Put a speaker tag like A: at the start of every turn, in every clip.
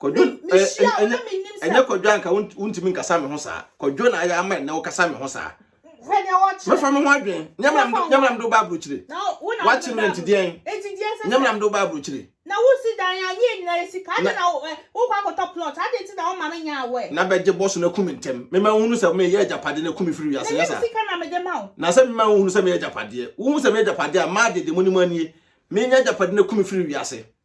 A: kɔdwo ɛnyɛ kɔdwo anka wontumi nkasa me ho saa kɔdwo na ayɛ ama ɛnɛ wokasa me ho saa mɛfa me ho adwen nyɛmram do ba aburokyire wakye me ntideɛn nyɛmram do ba aburokyire na wosi dan a ne
B: yɛ nyinaa sika ade na wokɔ akɔtɔ plot ade nti na woma me nya awɛ na bɛgye bɔ so na ku me
A: ntɛm mema wohunu sɛ meyɛ agyapade na ku me firi wiase nyɛ saa sika na mede ma
B: wo na sɛ mema wohunu sɛ meyɛ
A: agyapadeɛ wohu sɛ meyɛ agyapadeɛ a maa dede mu ne mu anie menya agyapade na ku me firi wiase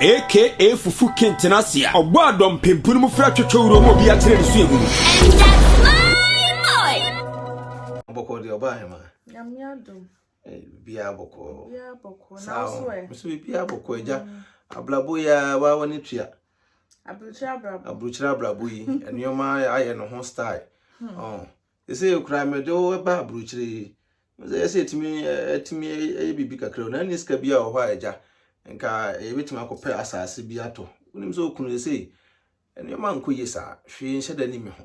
C: aka fufu kenten ase a ɔbɔ a dɔmpempu no mu fra twetwe wura mu obi akyerɛ ne suahu no.
A: Bɔkɔɔ deɛ ɔbaa hema. Nyame adom.
B: Biara
A: bɔkɔɔ. Biara bɔkɔɔ.
B: Na wo so ɛ. Mso biara bɔkɔɔ agya.
A: Mm. Abrabo yɛ wa wɔ ne tua. Aburukyerɛ abrabo. Aburukyerɛ abrabo yi nneɛma ayɛ ne ho style. Hmm. Oh. Seesei koraa mede wo reba aburokyire yi. Sɛ ɛyɛ sɛ yɛtumi atumi ayɛ biribi kakra o, na ɛne sika biara wɔ hɔ a agya, nka yɛbɛtumi akɔpɛ asase bi atɔ. Wonim sɛ okunu seesei nneɛma nkɔ yie saa, hwee nhyɛ da ni me ho.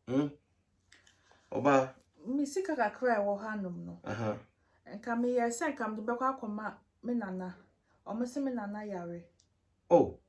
A: Hmm? Ɔbaa. Me sika
B: kakra a ɛwɔ hanom no, Aha. nka meyɛɛ sɛ nka mede bɛkɔ akɔma me nana. Wɔn se me nana yare. Oh,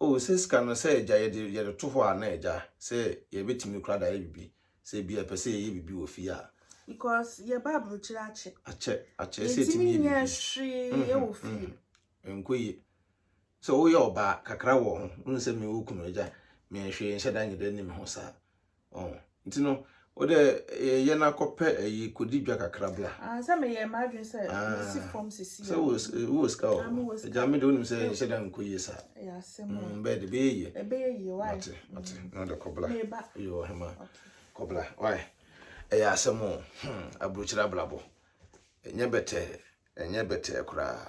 B: Oh sɛ sika no
A: sɛ agya yɛde yɛde to hɔ a na agya sɛ yɛbɛtumi koraa de ayɛ biribi sɛ ebi a ɛpɛ sɛ yɛyɛ biribi wɔ fie a. Because yɛba
B: aburokyire akyɛ. Akyɛ akyɛ
A: sɛ etumi yɛ biribi. Yɛntumi nyɛ hwee
B: wɔ fie. Ɛnkɔ yie.
A: Sɛ woyɛ ɔbaa kakra wɔ ho wohu sɛ me wo kunu agya me hwee nhyɛ da nyɛ dɛ ne me ho saa. Oh, nti no, wo dɛ eh, yɛn akɔpɛ ayi eh, kodi dwa kakra bra. Ah, sɛ meyɛ m'adwene
B: sɛ ah, mesi fam sisi. Sɛ wo eh, wo sika
A: wɔ hɔ. Ah, Agya me de wonim sɛ ɛhyɛ da nkɔ yie saa. Ɛyɛ asɛm. Mm,
B: bɛyɛ de bɛyɛ yie. Ɛbɛyɛ
A: yie, why? Mate, mate.
B: Mm. Na de
A: kɔbla. Meba. Yo, hema. Okay. Kɔbla, why? Ɛyɛ asɛm o. Hmm, aburukyerɛ abrabɔ. Ɛnyɛ bɛtɛɛ, ɛnyɛ bɛtɛɛ koraa.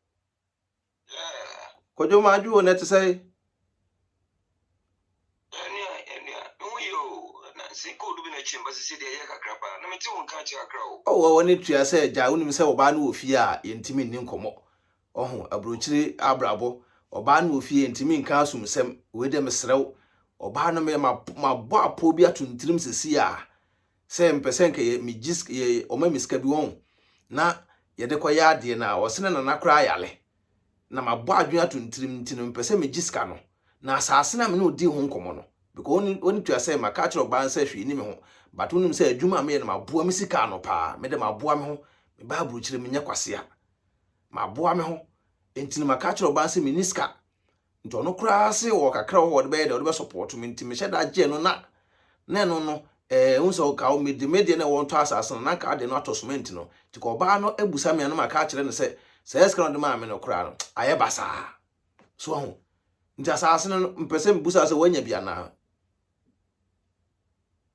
A: Kwadwo ma adwo na ɛte sɛ. Ɛnua ɛnua me ho yɛ o na nse gold bi na ɛkyɛn ba sisi deɛ ɛyɛ kakra paa na mete wo nka kyɛ kakra o. Ɔwɔ wɔ ne tua sɛ gya wonim sɛ ɔbaa no wɔ fie a yɛntumi nni nkɔmmɔ ɔho aburokyire abrabɔ ɔbaa no wɔ fie yɛntumi nka asumsɛm wei deɛ mesrɛ wo ɔbaa no meyɛ mabɔ apɔ bi ato ntirim sisi a sɛ mepɛ sɛ nka yɛ megye sika yɛ wɔma me sika bi wɔn na yɛde kɔyɛ adeɛ na ɔse na nana koraa yare na mabɔ adwene ato ne tirim nti no mepɛ sɛ megye sika no na asaase no a me ne ɔdii ho nkɔmmɔ no because ɔne ɔne tua sɛ maka akyerɛ ɔbaa no sɛ hwee ni me ho but wonim sɛ adwuma a meyɛ no maboa me sika ano paa mede maboa me ho mebaa aburokyire menyɛ kwasea maboa me ho nti no maka akyerɛ ɔbaa no sɛ menni sika Nti ɔno koraa se ɔwɔ kakra wɔ hɔ a ɔde bɛyɛ dɛ ɔde bɛ support me nti mehyɛ da gyɛ no na na ɛno no eh wohu sɛ ɔka mede me deɛ na ɛwɔ ntɔ asase no na nka adeɛ no atɔ cement no nti ka ɔbaa no abusa me a na maka akyerɛ no sɛ saa sika na ɔde maa me no koraa no ayɛ basaa so ahu nti asase no mpɛ sɛ mebusa sɛ woanya bi anaa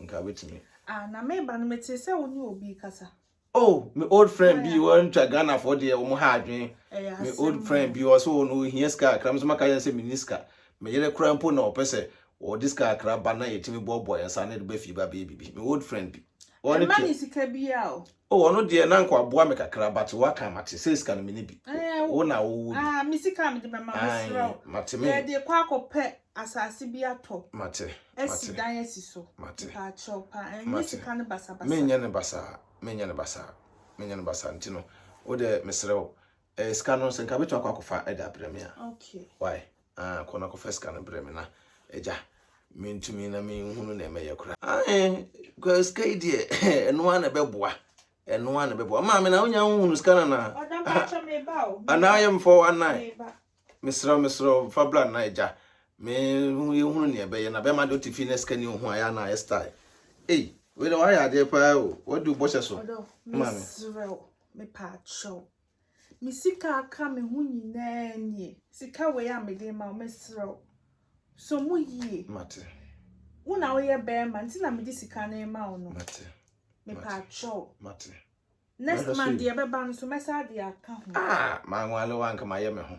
A: nka wobɛtumi. Ah, na meba no
B: metee sɛ wo ne obi kasa. Oh, me old
A: friend bi wɔntwa Ghanafoɔ deɛ wɔn ha adwene. Me old friend bi ɔsɛ wɔn no ohia sika akra me sɛ maka yɛn sɛ me ni sika. Me yere kora mpo na ɔpɛ sɛ wɔde sika akra ba na yɛtumi boaboa yɛn nsa ne de ba fie ba bɛyɛ biribi. Me old friend bi. Ɛma ne sika
B: biara o. Oh ɔno deɛ na
A: nka waboa me kakra but waka mate sɛ sika no mene bi wo na wowɔ bi. Ah me sika mede bɛma
B: mesrɛ wo. Mate me. Yɛde kɔ
A: akɔpɛ
B: asase bi atɔ. Mate. Asi
A: dan asi
B: so. Mate. Mpakyɛw pa
A: ɛnyɛ
B: sika no basa basa. Menyɛ no basaa
A: menyɛ no basaa menyɛ no basaa nti no wode mesrɛ wo ɛɛ sika no sɛ nka wobɛtumi akɔ akɔfa de abrɛ me a. Okay. Why.
B: Ah,
A: kɔ na kɔfa sika no brɛ me na agya mentumi na menhunu na ɛmɛyɛ koraa. Ah, sika yi deɛ ɛno ara na ɛbɛboa ɛno ara na ɛbɛboa maame na wonya wohunu sika no na anaa yɛ mfɔ anan mesrɛ mesrɛ fa bra na agya mehunu nea ɛbɛyɛ na bɛma de wote fie na sika ni ho ayɛ na ayɛ style ei wei na wayɛ adeɛ paa o wode wobɔhyɛ so maame mesrɛ
B: mepaakyɛw Me sika a aka me ho nyinaa nie. Sika wei a mede ma wo, mesrɛ wo, sɔ mu yie. Mate.
A: Wo na woyɛ
B: bɛrima nti na mede sika no rema wo no. Mate. Mepɛ akyɛw. Mate.
A: Next month
B: deɛ ɛbɛba no so mɛsa de aka ho. Ah, manwale
A: wo anka mayɛ me ho.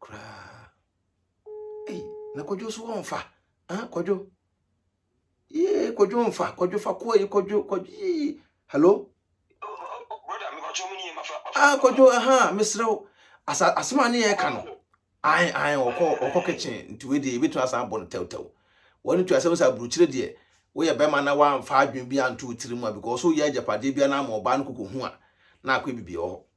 A: koraa ei na kwadwo so wɔmfa ah kwadwo yee kwadwo mfa kwadwo fa kɔɔ yi kwadwo kwadwo yee hello ah kwadwo aha mesrɛ wo asa asɛm a ne yɛka no ae ae ɔkɔ ɔkɔ kitchen nti wei deɛ yɛbɛtumi asan abɔ no tɛwtɛw wɔne tu asɛm sɛ aburukyire deɛ woyɛ bɛrima na woamfa adwene bi anto wo tiri mu a because woyɛ agyapadeɛ bia na ama ɔbaa no kɔkɔhu a na akɔyɛ biribi wɔ hɔ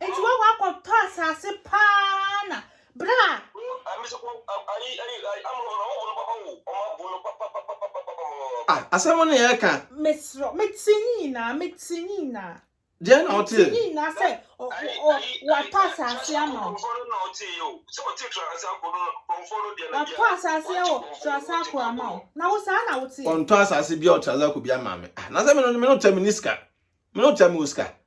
B: Nti wɔn wakɔ tɔ asase paa na bra. Ah
A: asɛm ne yɛ ka. Mesrɛ me te
B: nyinaa me te nyinaa. Deɛ na ɔte. Me te
A: nyinaa sɛ
B: ɔ ɔ watɔ asase ama wo. Watɔ asase wɔ Trasako ama wo na wo saa na wo te. Ɔntɔ asase bia wɔ Trasako
A: bia ama me ah na sɛ me no me no tɛ me ni sika me no tɛ me wɔ sika.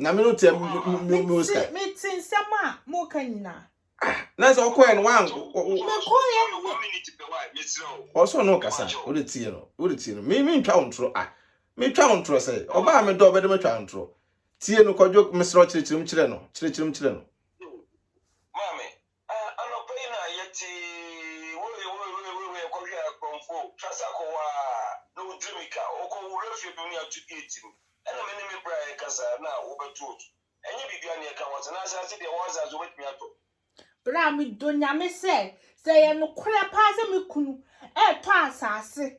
A: Nyame no tɛ mo mo sika. Me te nsɛm a
B: mo ka nyina. Ah, na sɛ ɔkɔɛ
A: no wan Me kɔɛ
B: no me.
D: Ɔsɔ no kasa,
A: o de tie no, o de tie no. Me me ntwa wo ntoro ah. Me twa wo ntoro sɛ, ɔbaa me dɔ ɔbɛde me twa ntoro. Tie no kɔdwo mesrɛ kyerɛkyerɛm kyerɛ no, kyerɛkyerɛm kyerɛ no.
D: Ah anɔpa yi na yɛ tee woi woi woi woi woi ɛkɔ hwɛ akorɔmfo trasa kɔ waa na wo diri mi ka ɔkɔ wura fie bi mu ne ato gate mu ɛna me ne me bra yɛ kasa na wo bɛ to so ɛnyɛ biribi a ne yɛ ka wɔ tena ase ase deɛ wɔ ase ase wo bɛ tumi atɔ. Bra me
B: dɔ nyame sɛ sɛ yɛ nokorɛ paa sɛ me kunu ɛɛtɔ asaase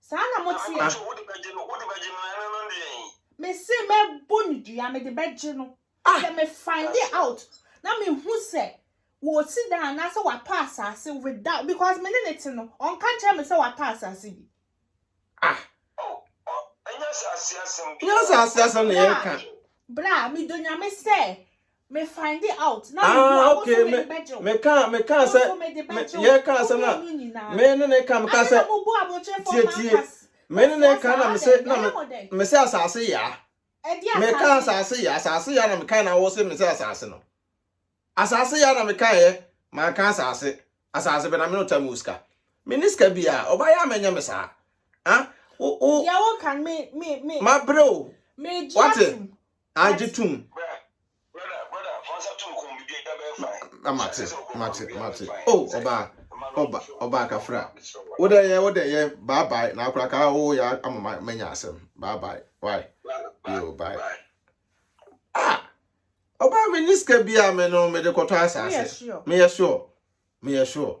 A: Saa na mo
B: teɛ. Nanso wode bɛgye no, wode
D: bɛgye no, na ɛno no deɛ yi. Mese mɛbɔ
B: no dua, mede bɛgye no. Ah! Sɛ me find it out, na mehu sɛ wɔsi dan anaasɛ watɔ asase without, because me ne ne te no, ɔnka nkyerɛ me sɛ watɔ asase bi. Ah! Oh,
D: oh, ɛnyɛ asase asɛm bi. Ɛnyɛ asase asɛm na
A: yɛreka. Bra, bra, medɔ
B: Nyame sɛ Me find out na me hu a wo so me de bɛgye wo.
A: Meka meka sɛ yɛ ka asɛm na me ne ne ka meka sɛ tietie me ne ne ka na me se na me se asase ya me ka asase ya asase ya na me ka na wo se me se asase no asase ya na me ka yɛ man ka asase asase bɛ na me no tam uska me ne ska bia ɔba ya menya me saa ah wo wo ya wo kan
B: me me me ma bro
A: me gye atum Agye tom.
D: Mate, mate, mate.
A: Oh, ọba, ọba, ọba akafra. Wo dɛ yɛ, wo dɛ yɛ, bye bye. Na akora ka wo ya ama manya asɛm. Bye bye. Why? Yo, bye. Ah, ọba me niska bi a me no me de kɔtɔ asase. Me yɛ sure. Me yɛ sure.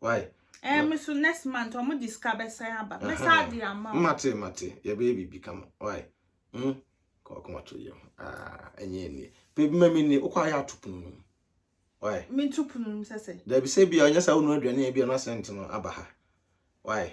A: why. Ɛɛ me so next
B: month ɔmo de sika bɛsan aba mɛsa de ama o. Mate mate yɛbɛyɛ
A: biribi kama why hmm kɔkɔ ma to yɛ ho aa ɛnyɛ ɛnie pɛ bi ma mi ni wokɔ ayɛ ato pono no mu why. Me to pono no mu
B: sɛ sɛ. Dabi sɛ bi a ɔnyɛ saa
A: wonu aduane a bi a na sɛnt no aba ha why.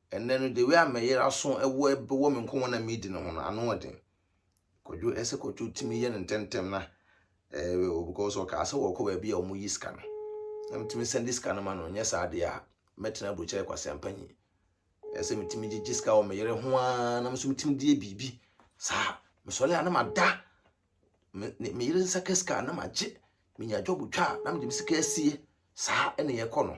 A: Ɛnnɛ no, the way a me yere aso wɔ wɔ me nkɔmmɔ na medi no ho no, ano ɔden. Kwadwo, ɛsɛ kwadwo tumi yɛ no ntɛmntɛm na ɛɛ because ɔkaa sɛ wɔkɔ baabi a wɔn yi sika no. Na metumi sɛn de sika no ma no, nyɛ saa deɛ a, mɛtena aburokyerɛ kwasea mpanyin. Ɛsɛ metumi gyegye sika wɔ me yere ho ara na nso metumi de yɛ biribi. Saa, mesɔre a na mada me me yere nsa ka sika na magye, menya dwɔbo twa a na mede me sika asie. Saa ɛna yɛkɔ no.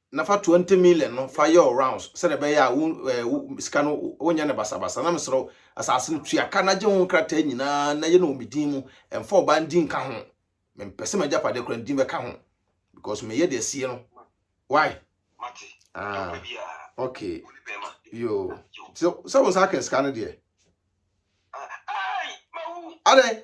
A: na fa twenty million no fa yɛ wo rounds sɛdeɛ ɛbɛyɛ a wo eh, wo sika no wonyɛ no basabasa na mesrɛ wo asase no tua ka na gye ho nkrataa nyinaa na yɛ no wɔ me din mu ɛmfa ɔbaa no din nka ho mempɛ sɛ m'agyapadeɛ koraa ne din bɛka ho because meyɛ deɛ asie no why ah okay yo sɛ sɛ wo nsa aka sika no deɛ adɛn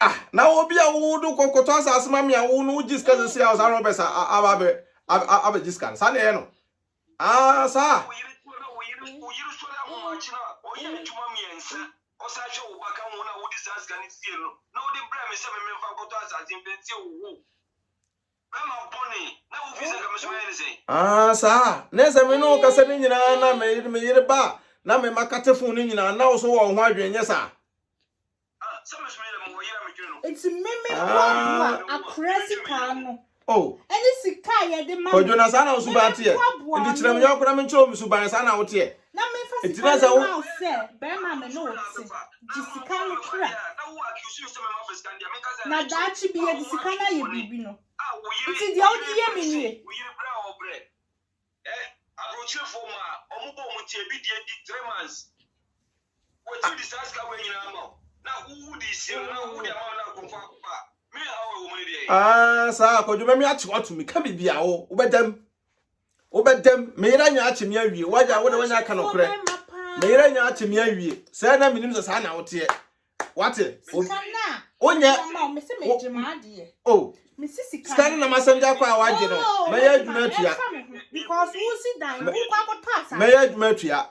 A: Ah, na obi a wo do kɔ kɔtɔ asase ma me a wo no wo gye sika sisi a ɔsa Robert a aba abɛ abɛ gye sika no. Saa na ɛyɛ no. Ah, saa. Ah, saa. Na ɛsɛ me ne wo kasa no nyinaa na me yere me yere ba na me ma kate fon no nyinaa na wo so wɔ ho adwene nyɛ saa. Nti meme boaboa
B: akora sika no. Oh. Ɛne sika a yɛde ma. Kwadwo na saa na wo suban
A: teɛ. Nti kyerɛ me yɔnko na menkyerɛ wo me suban saa na wo teɛ. Na menfa Enti sika na
B: sɛ no wo mma wo sɛ barima a me ne wo te. Gye sika no tra. Na daakye bi yɛde sika no ayɛ biribi no. Enti deɛ wode yɛ me
D: nie. Aa saa a, Kwadwo, mɛme akye
A: wo ato me ka biribi a wo, wobɛda mu. wobɛdam me yere anya akye me awie wagya wo de wanya aka nokorɛ me yere anya akye me awie sɛ na menim sɛ saa na woteɛ wate wonyɛ
B: sika no nam asɛm de akɔ a
A: wagye no mɛyɛ adwuma atua
B: mɛyɛ adwuma atua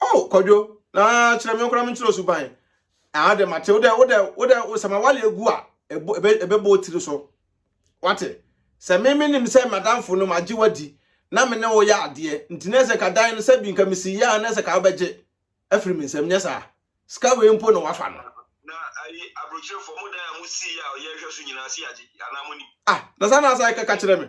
D: Oh kwadwo na
A: kyerɛ me nkora me nkyerɛ suban. Ah de mate wo de wo de wo de sɛ ma wale egu a ebe bo tiri so. Wate. Sɛ me me nim sɛ madamfo no magye wadi na me ne wo yɛ adeɛ nti na sɛ ka dan no sɛ bi nka me si yɛ a na sɛ ka wobɛgye afiri me nsam nyɛ saa. Sika wei mpo na wafa no. Na ayi
D: abrokyire fo ɔmo dan a mo si yɛ a ɔyɛ hwɛ so nyinaa se yagye anaa mo nim. Ah na saa na asa yɛ
A: kɛka kyerɛ me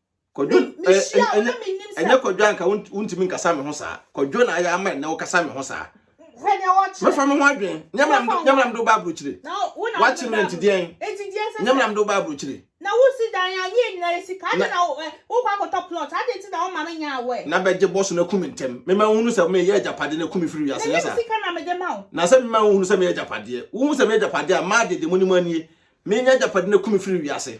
B: kɔdwo
A: ɛnyɛ kɔdwo anka wontumi nkasa me ho saa kɔdwo na ayɛ ama ɛnɛ wokasa me ho saa
B: mɛfa me ho adwen
A: nyamram de woba aburokyire woakye me
B: ntideɛn
A: nyamram de woba aburokyire na wosi dan a ne
B: yɛ nyinaa yɛ sika ade na wokɔ akɔtɔ plot ade nti na woma me nya awɛ na bɛgye bɔ so no aku me
A: ntɛm mema wohunu sɛ meyɛ agyapade no aku me firi wiase nyɛ saa sika na mede ma wo
B: na sɛ mema wohunu
A: sɛ meyɛ agyapadeɛ wohu sɛ meyɛ agyapadeɛ a maa dede mu ne mu anie menya agyapade no aku me firi wiase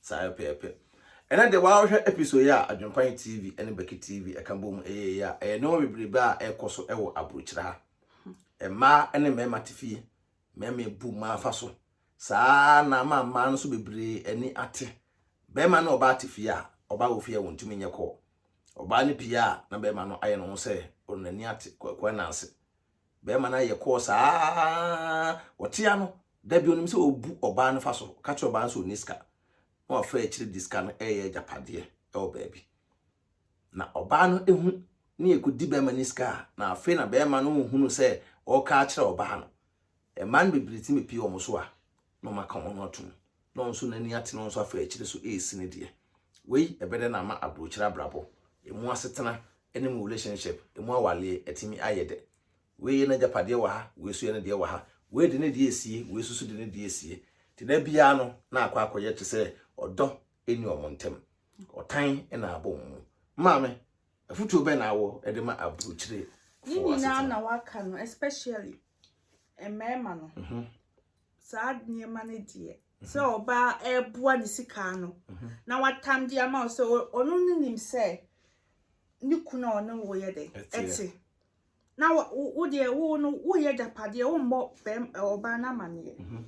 A: Saa ara pɛɛpɛ. Ɛnɛ deɛ w'ahwɛ episode yi a Adwempan TV ne Becky TV ɛka bɔ mu ɛyɛ yi a, ɛyɛ nneɛma bebrebe a ɛkɔ so ɛwɔ aburokyerɛ ha. Mmaa ne mmarima te fie, mmarima ebu mmaa fa so. Saa ara na ama mmaa no so bebree ani ate. Barima ne ɔbaa te fie a, ɔbaa wɔ fie a wɔntumi nyɛ kɔɔ. Ɔbaa no pie a, na barima no ayɛ ne ho sɛ ɔno n'ani ate, Kwaku Ananse. Bɛrima no ayɛ kɔɔ saa ara, ɔte ano, da bi onim sɛ ɔbu ɔbaa no fa so, ɔka kyerɛ ɔbaa no sɛ ɔnni sika, na wafa akyiri de sika no reyɛ agyapadeɛ wɔ baabi. Na ɔbaa no hu ne ɛkɔdi bɛrima no sika a, na afei na bɛrima no rehunu sɛ ɔreka akyerɛ ɔbaa no. Mmaa no bebree tumi pie wɔn so a, na ɔma ka wɔn ho atom, na ɔno nso n'ani ate na ɔno nso afa akyire so resi ne deɛ. Wei ɛbɛdɛ na ama aburokyire abrabɔ, emu asetena ne mu relationship, emu awaleɛ atumi ayɛ dɛ. Wei yɛ n'agyapadeɛ wɔ ha, wei nso yɛ ne deɛ wɔ ha. Wei de ne deɛ resie, wei nso so de ne deɛ resie. Nti da biara no na akɔ akɔyɛ te sɛ ɔdɔ nni wɔn ntam. Ɔtan na abɔ wɔn mu. Maame, afotuo bɛn na awɔ de ma aburokyire? Ne nyinaa na
B: waka no especially mmarima no. saa nneɛma no deɛ sɛ mhm. ɔbaa ɛreboa ne sika ano mhm. na watam de ama wo sɛ ɔno no nim sɛ ne kunu a ɔne wo yɛ dɛ ɛte na wo deɛ wo no woyɛ agyapadeɛ wommɔ bɛm ɔbaa no amanneɛ mhm.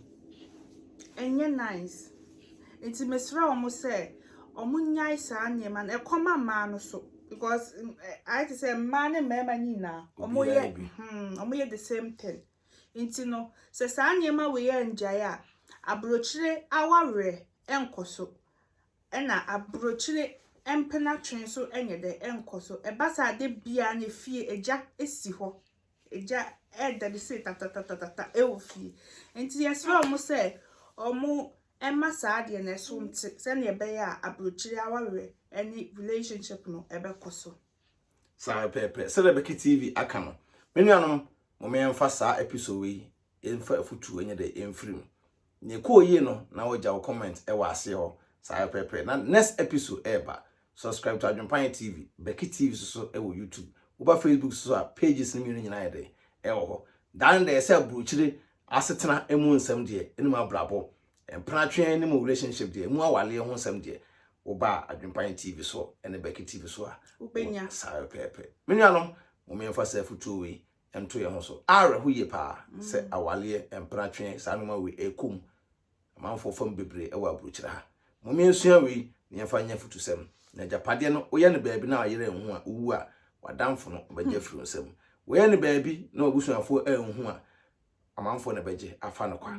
B: ɛnyɛ nice nti mesrɛ wɔn sɛ wɔn nyae saa nneɛma no ɛkɔma mmaa no so because ayɛ te sɛ mmaa ne mmarima nyinaa wɔn yɛ wɔn yɛ the same thing. Enti no, sɛ saa nneɛma wei anngyae a, aburokyire awawerɛ nnkɔ so, ɛna aburokyire mpenatwe nso nyɛ dɛ, nnkɔ so. Ɛba saa a, da biara no efie, egya si hɔ. Egya reda de sei tatatatatata wɔ fie. Enti yɛsrɛ wɔn sɛ wɔmma saa adeɛ no so nte sɛdeɛ ɛbɛyɛ a aburokyire awawerɛ ne relationship no bɛkɔ so. Saa ara
A: pɛɛpɛɛ, sɛdeɛ Becky TV aka no, me nuanom, momma yɛmfa saa episode wei yɛmfa afutuo nyɛ dɛ yɛmfiri mu. Nea ɛkɔɔ yie no, na wagya wo comment wɔ aseɛ hɔ. Saa ara pɛɛpɛɛ, na next episode ɛreba. Subscribe to Adwempayɛ TV, Becky TV nso so wɔ YouTube. Woba Facebook nso so a, pages no mmienu nyinaa yɛ dɛ ɛwɔ hɔ. Dane dɛ sɛ aburokyire asetena mu nsɛm deɛ, ɛne mu abrabɔ Mpratwe ne mu relationship deɛ, mu awaleɛ ho nsɛm deɛ, woba Adwempan TV so ne Becky TV so a, wobɛnya saa
B: pɛpɛɛpɛ.
A: Me nuanom, mom yɛmfa saa afutuo wei nto yɛn ho so. Awerɛho yie paa sɛ awaleɛ, mpratwe, saa nneɛma wei ɛrekɔ mu. Amanfoɔ fam bebree wɔ aburokyire ha. Mom yɛnsua wei na yɛmfa nyɛ afutusɛm. Na agyapadeɛ no, woyɛ no baabi na w'ayere anhu a, wowu a, w'adamfo no ɔbɛgye afiri wo nsam. Woyɛ no baabi na w'abusuafoɔ anhu a, amanfoɔ na ɛbɛgye afa no kwa.